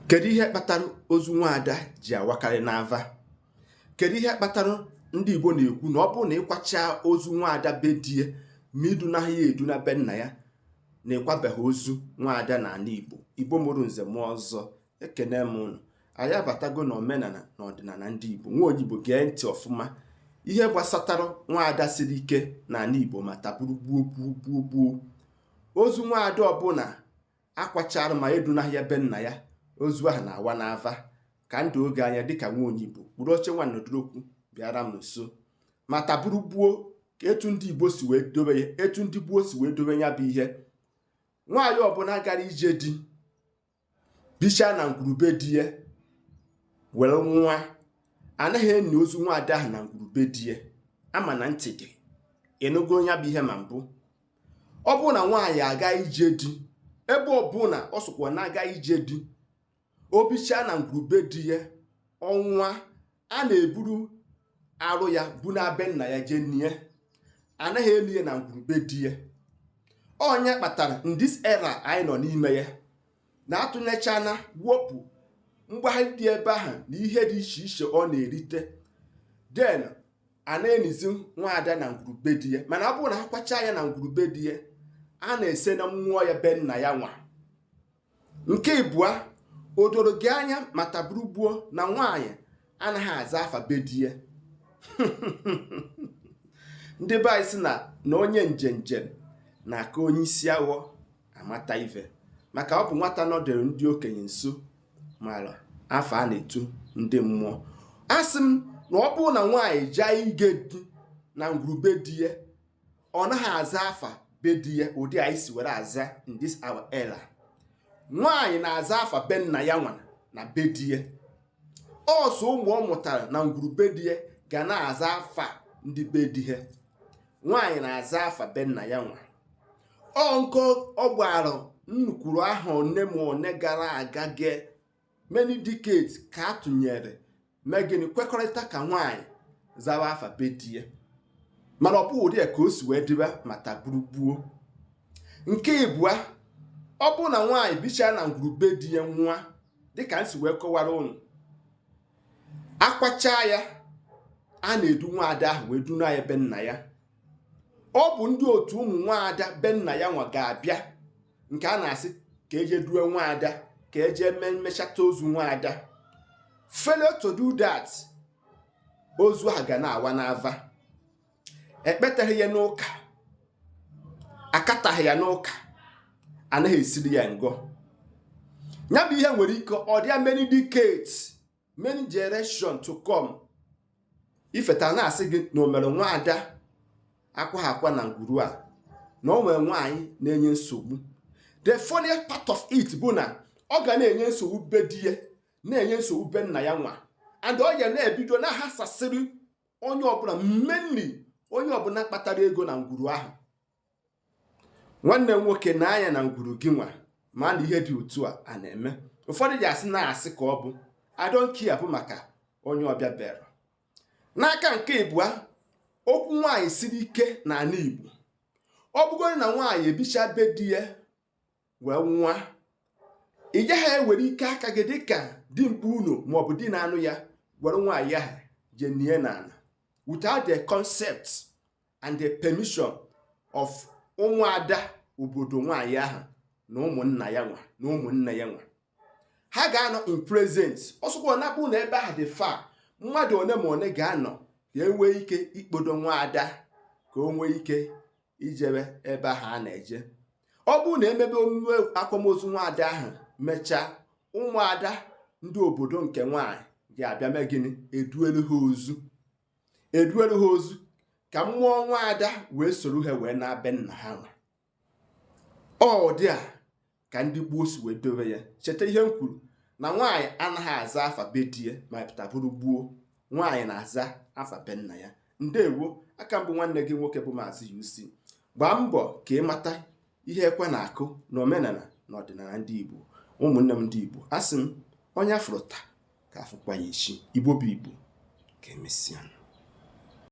kedu ihe kpatara ozu nwaada ji awakarị n'ava kedu ihe kpatara ndị Igbo na-ekwu na ọ bụrụ na ịkwacha ozu nwaada be di ya ma idunaghị ya eduna be nna ya na ịkwabeghị ozu nwaada n'ala Igbo Igbo mụrụ nze mụọ ọzọ ekene m ụnụ anyị abatago na omenala na ọdịnala ndị Igbo nwa onye Igbo gee ntị ọfụma ihe gbasatara nwaada siri ike n'ala Igbo ma taa bụrụ gboo gboo gboo gboo ozu nwaada ọbụla akwachara ma edunaghị ya be nna ya ozu ahụ na-awa n'ava ka m doo gị anya dịka nwa onye Igbo kpụrụ oche nwa nọdụrụkwu bịara m nso ma taa bụrụ gboo ka etu ndị Igbo si wee dobe ya etu ndị gboo si wee dobe ya bụ ihe nwaanyị ọbụla gara ije di bichaa na ngwuru be di ya were nwụa anaghị eni ozu nwa ada ahụ na ngwuru be di ya ama m na ntị gị anụgo ya bụ ihe ma mbụ ọ bụrụ na nwaanyị aga ije di ebe ọbụla ọ sọkwa na-aga ije di o bichaa na ngwuru be di ya ọ nwụa a na-eburu arụ ya buna be nna ya jee nie anaghị eni ya na ngwuru be di ya ọ nya kpatara in this era anyị nọ n'ime ya na-atụnyechana wepụ mgbagharị dị ebe ahụ na ihe dị iche iche ọ na-erite then a na-enizi nwaada na ngwuru be di ya mana ọ bụrụ na ha kwachaa ya na ngwuru be di ya a na-esena mmụọ ya be nna ya nwa nke ịbụa o doro gị anya ma taa bụrụ gboo na nwaanyị anaghị aza afa be di ya ndị be anyị sị na na onye njenje na-aka onye isi awọ amata ife maka ọ bụ nwata nọdụrụ ndị okenye nso mara afa a na-etu ndị mmụọ asị m na ọ bụrụ na nwaanyị jaa ije di na ngwuru be di ya ọ naghị aza afa be di ya ụdị anyị si were aza in this our era nwaanyị na-aza afa be nna ya nwa na be di ya ọ sọ ụmụ ọ mụtara na ngwuru be di ya ga na-aza afa ndị be di ya nwaanyị na-aza afa be nna ya nwa ọ nke ọ gbara nnukwuru ahọ one ma one gara aga ge many decades ka a tụnyere mee gịnị kwekọrịta ka nwaanyị zawa afa be di ya mana ọ bụghị ụdị a ka o si wee dịba ma taa bụrụ gboo nke ịbụa ọ bụrụ na nwaanyị bichaa na ngwuru be di ya nwụa dịka m si wee kọwara ụnụ akwachaa ya a na-edu nwaada ahụ wee duna ya be nna ya ọ bụ ndị otu ụmụ nwaada be nna ya nwa ga-abịa nke a na-asị ka eje duo nwaada ka eje mechata ozu nwaada failure to do that ozu a ga na-awa n'ava ekpetaghị ya n'ụka akataghị ya n'ụka anaghị esiri ya ngọ ya bụ ihe nwere ike ọ dịa many decades many generation to come ifeta na-asị gị na o nwere nwaada akwaha akwa na ngwuru a na o nwere nwaanyị na-enye nsogbu the funniest part of it bụ na ọ ga na-enye nsogbu be di ya na-enye nsogbu be nna ya nwa and ọ ya na-ebido na-ahasasịrị onye ọbụla mainly onye ọbụla kpatara ego na ngwuru ahụ nwanne nwoke nee anya na ngwuru gị nwa ma na ihe dị otu a a na-eme ụfọdụ ji asị na-asị ka ọ bụ I don't care bụ maka onye ọbịa bịara n'aka nke ịbụa okwu nwaanyị siri ike na ala igbo ọ bụgodị na nwaanyị ebicha be di ya wee nwụa ị gaghị ewere ike aka gị dịka dimkpa unu maọbụ di na-anụ ya were nwaanyị ahụ je nie n'ala without the consent and the permission of ụmụada obodo nwaanyị ahụ na ụmụnna ya nwa na ụmụnne ya nwa ha ga-anọ in present ọ sọkwa ya bụ na ebe ahụ dị far mmadụ one ma one ga-anọ ka enwee ike ikpodo nwa ada ka o nwee ike ijebe ebe ahụ a na-eje ọ bụrụ na emebe omume akwamozu nwaada ahụ mechaa ụmụada ndị obodo nke nwaanyị ga-abịa mee gịnị eduelu ha ozu eduelu ha ozu ka mmụọ nwa ada wee soro ha wee naa be nna ha nwa ọ dị a ka ndị gboo si wee dobe ya cheta ihe m kwuru na nwaanyị anaghị aza afa be di ya ma pụta bụrụ gboo nwaanyị na-aza afa be nna ya ndewo aka m bụ nwanne gị nwoke bụ maazị UC gbaa mbọ ka ị mata ihe ekwe na-akụ na omenala na ọdịnala ndị Igbo ụmụnne m ndị Igbo asị m onye afụrụ taa ka afụkwa ya echi igbo bụ igbo ka emesịa